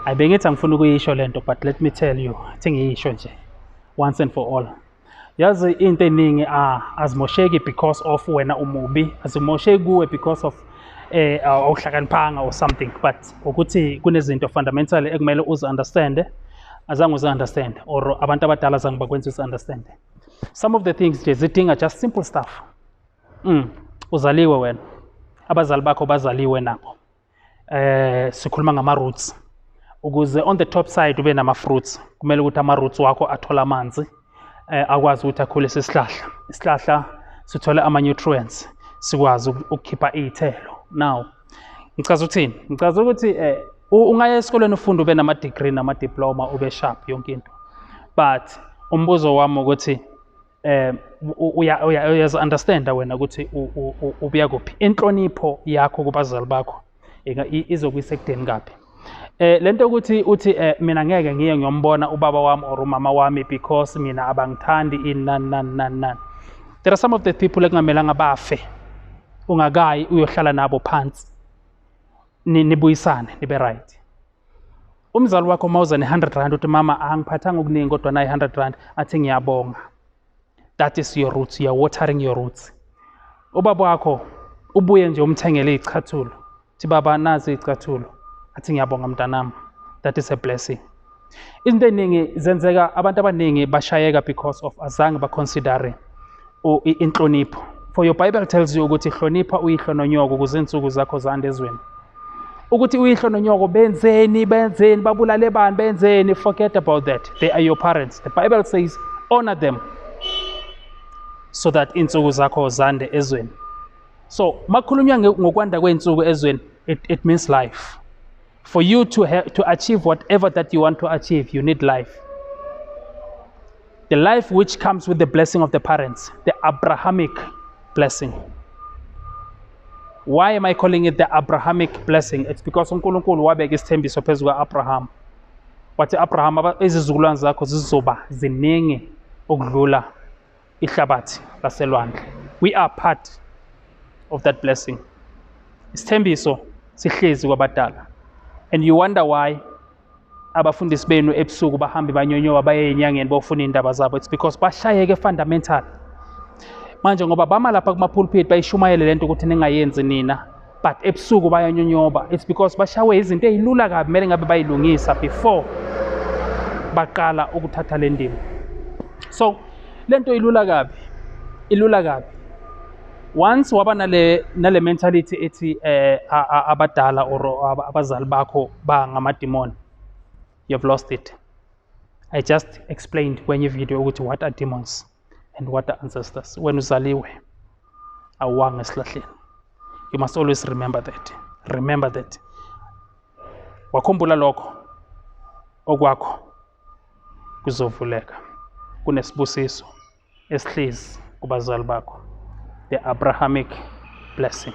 I bengithi angifuni ukuyisho lento but let me tell you thi ngiyisho nje once and for all yazi into eningi ah, azimosheki because of wena umubi azimosheki kuwe because of eh awuhlakaniphanga or something but ukuthi kunezinto fundamental ekumele uzi understand azange uzi understand or abantu abadala azange bakwenza uzi understand some of the things nje zidinga just simple stuff mm uzaliwe wena abazali bakho bazaliwe nabo eh sikhuluma ngama roots ukuze on the top side ube nama fruits kumele ukuthi ama roots wakho athole amanzi eh akwazi ukuthi akhule sesihlahla isihlahla sithole ama nutrients sikwazi ukukhipha izithelo now ngichaza ukuthini ngichaza ukuthi eh ungaya esikoleni ufunda ube nama degree nama diploma ube sharp yonke into but umbuzo wami ukuthi um uyazi-understanda wena ukuthi ubuya kuphi inhlonipho yakho kubazali bakho izokuyisa ekudeni kaphi Eh lento ukuthi uthi eh mina ngeke ngiye ngiyombona ubaba wami or umama wami because mina abangithandi in nan nan nan nan. There are some of the people ekungamelanga bafe ungakayi uyohlala nabo phansi nibuyisane nibe right. umzali wakho uma uza ne-hundred rand uthi mama angiphathanga okuningi kodwa nayi hundred rand athi ngiyabonga that is your roots you are watering your roots ubaba wakho ubuye nje umthengele iy'chathulo thi baba nazi iy'cathulo athi ngiyabonga mntanami that is a blessing izinto ey'ningi zenzeka abantu abaningi bashayeka because of azange baconsidere inhlonipho for your bible tells you ukuthi hlonipha uyihlo nonyoko ukuze insuku zakho zande ezweni ukuthi uyihlo nonyoko benzeni benzeni babulale bani benzeni forget about that they are your parents the bible says honor them so that insuku zakho zande ezweni so makhulunywa ngokwanda kwey'nsuku ezweni it, it means life For you to, have, to achieve whatever that you want to achieve, you need life. The life which comes with the blessing of the parents, the Abrahamic blessing. Why am I calling it the Abrahamic blessing? It's because uNkulunkulu wabeka isithembiso phezu kwa-Abraham. Wathi Abraham, izizukulwane zakho zizoba ziningi ukudlula ihlabathi laselwandle we are part of that blessing isithembiso sihlezi kwabadala and you wonder why abafundisi benu ebusuku bahambe banyonyowa baye enyangeni bofuna iy'ndaba zabo it's because bashayeke fundamental manje ngoba bama lapha kuma-pulpit bayishumayele le nto ukuthi ningayenzi nina but ebusuku bayanyonyoba it's because bashawe izinto ezilula kabi kumele ngabe bayilungisa before baqala ukuthatha le ndima so lento ilula kabi ilula kabi once waba nale nale mentality ethi eh abadala or abazali bakho ba ngamademon you've lost it i just explained kwenye video ukuthi what are demons and what are ancestors when uzaliwe awuwanga esilahleni you must always remember that remember that wakhumbula lokho okwakho kuzovuleka kunesibusiso esihlezi kubazali bakho the abrahamic blessing